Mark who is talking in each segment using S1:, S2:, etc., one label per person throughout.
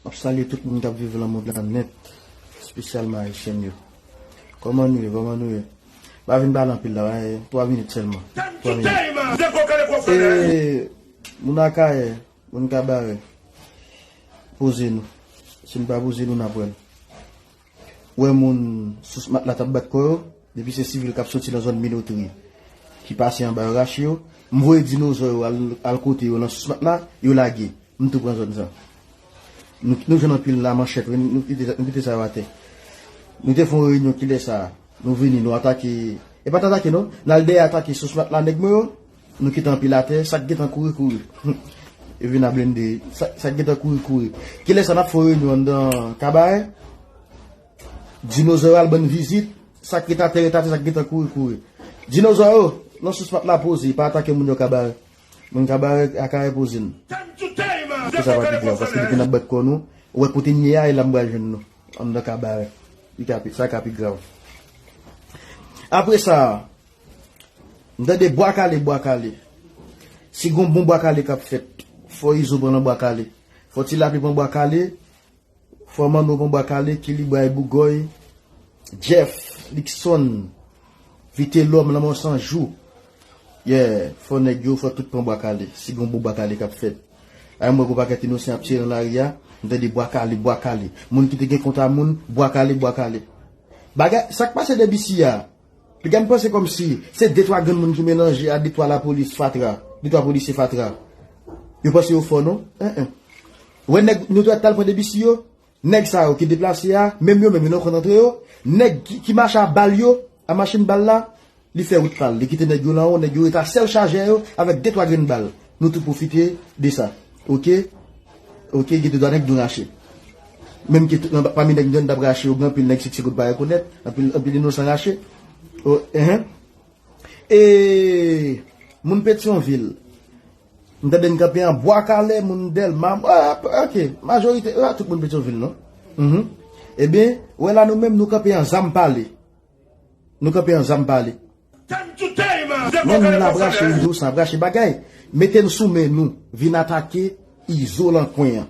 S1: Map salye tout moun kap viv lan mond lan nèt espesyalman ayisyèn yo kòman nou ye kòman nou ye pa vin pale anpil la wi 3 minit sèlman 3 minit ee moun akayè moun kabarè poze nou si nou pa poze nou nap wèl wè moun sous matla k ap bat kò yo, depi se sivil k ap soti nan zòn Minotri ki pase anba rach yo, m voye dinozò yo al kote yo nan sous matla, yo lage. M tou pran zòn sa. Nou jwenn anpil lamanchèt, nou kite sa yo atè. Nou te fè yon reyinyon kilè sa a, nou vini nou atake, e pa t atake non, n al dèyè atake sous matla nèg mwen yo, Nou kite anpil atè, sak gentan kouri kouri. Yo vin a blende, sak gentan kouri kouri. Kilè sa nap fon reyinyon anndan kabarè? Dinozò yo al bann vizit, sak ret atè ret atè sak gentan kouri kouri. Dinozò yo, non sous pat la poze, pa atake moun yo kabarè. Moun kabarè akayè poze n. Ke sa pa pi grav, paske depi nan bat kò nou, ou wè kote n ye a e la m pral jwenn nou, anndan kabarè. Sa ka pi grav. Apre sa. M tande bwa kale bwa kale. Si gon bon bwa kale kap fèt. Fò izo pran nan bwa kale. Fò ti lapli pran bwa kale. Fò manno pran bwa kale. Kilibray bougòy. Jeff. Liksonn. Vitelòm lanmò san jou. Yeah. Fò nèg yo fò tout pran bwa kale. Si gon bon bwa kale kap fèt. Ay m wè gon pakèt inosan ap tire nan lari a. M tande bwa kale bwa kale. Moun ki te gen kont a moun. Bwa kale bwa kale. Bagay sak pase 2 bisi a. Piga m panse kòmsi se de twa granmoun ki melanje a de twa lapolis fatra, de twa polisye fatra. Yo panse yo fò non. Anh anh. Ou wè nèg nou t wè k t al pran debisi yo? Nèg sa yo ki deplase a, menm yo menm yo nan konn antre yo. Nèg ki mache a bal yo, a machin bal la, li fè wout pa l. Li kite nèg yo lan wo, nèg yo ret a sèl chajè yo avèk de twa grenn bal. Nou tout pwofite de sa ok ok gen de dwa nèg nou rache menm ke pami nèg nou tap rache yo gen anpil nèg sikse kout pa rekonèt anpil inosan rache eeh e moun petyon vil m tande n kanpe an bwa kale moun delma ok majorite yo a tout moun petyon vil non ebyen wè la nou menm nou kanpe an zanm pale. Nou kanpe anzanm pale. Time to time ze Menm kokoye la brache pwofesè. izo sa brache bagay mete n sou men nou vin atake izo lan kwen an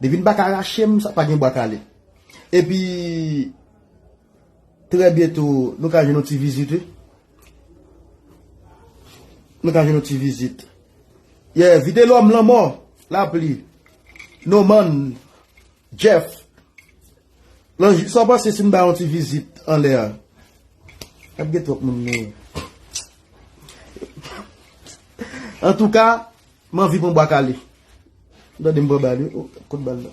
S1: depi n pa ka rache m sa pa gen bwa kale epi trè byento nou ka jwenn yon ti vizit wi nou ka jwenn yon ti vizit yeah vitelòm lanmò lapli no man Jeff, Lan jou sa w panse si m bay yon ti vizit anlè a? Ap gen twòp moun men. Antouka, m anvi pran bwa kale. M tande m pran bal wi. O, kot bal la?